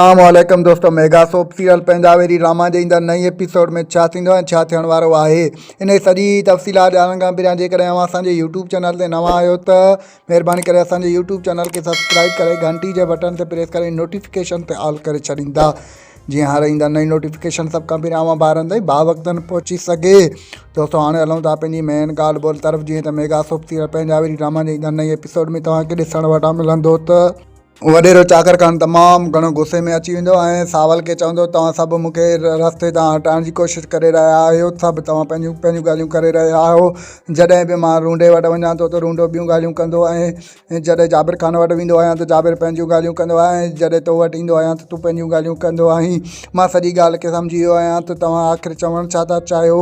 اسلام عليڪم دوستو ميگا سوپ سيريل پنهنجا ويري راما جي ايندڙ نئين ايپيسوڊ ۾ ڇا ٿيندو ۽ ڇا ٿيڻ وارو آهي ان جي سڄي تفصيلات ڄاڻڻ کان پهريان جيڪڏهن اوهان اسان جي يوٽيوب چينل تي نوان آهيو ته مهرباني ڪري اسان جي يوٽيوب چينل کي سبسڪرائب ڪري گهنٽي جي بٽن تي پريس ڪري نوٽيفڪيشن تي آل ڪري ڇڏيندا جيئن هر ايندڙ نئين نوٽيفڪيشن سڀ کان پهريان اوهان ٻارن تائين با وقتن پهچي سگهي دوستو هاڻي هلون ٿا پنهنجي مين ڳالهه ٻولهه طرف جيئن ته ميگا سوپ سيريل پنهنجا ويري ڊراما جي ايندڙ نئين ايپيسوڊ ۾ توهان کي ڏسڻ وٽان ملندو ته وڏيرو چاڪر خان تمام گهڻو غصي ۾ اچي ويندو ۽ ساول کي چوندو توهان سڀ مون کي رستي تان هٽائڻ جي ڪوشش ڪري رهيا آهيو سڀ توهان پنهنجون پنهنجون ڳالهيون ڪري رهيا آهيو جڏهن به مان رونڊي وٽ وڃان ٿو ته رونڊو ٻيون ڳالهيون ڪندو ۽ جڏهن جابر خان وٽ ويندو آهيان ته جابر پنهنجون ڳالهيون ڪندو آهي ۽ جڏهن تو وٽ ايندو آهيان ته تون پنهنجون ڳالهيون ڪندو آهين مان سڄي ڳالهه کي سمجهي ويو آهيان ته توهان آخر چوڻ ڇا ٿا چاهيو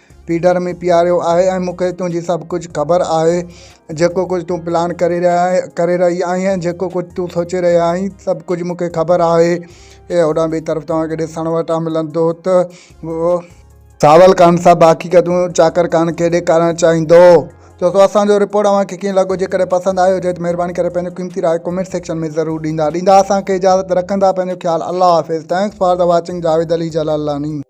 پيڊر ۾ پياريو آهي ۽ مون کي تنهنجي سڀ ڪجهه خبر آهي جيڪو ڪجهه تون پلان ڪري رهي آهي ڪري رهي آهي ۽ جيڪو ڪجهه تون سوچي رهي آهي سڀ ڪجهه مون کي خبر آهي اي هوڏانهن ٻئي طرف توهان کي ڏسڻ وٽان ملندو ته اهو ساول خان سڀ حقيقتون چاڪر خان کي ڏيکارڻ چاهيندو دوستو اسان جو رپورٽ اوهان کي ڪيئن لڳو جيڪڏهن پسند آيو هجي ته مهرباني ڪري پنهنجو قيمتي راء ڪمينٽ سيڪشن ۾ ضرور ڏيندا ڏيندا اسان کي اجازت رکندا پنهنجو خيال الله حافظ thanks for the watching Javed Ali Jalalani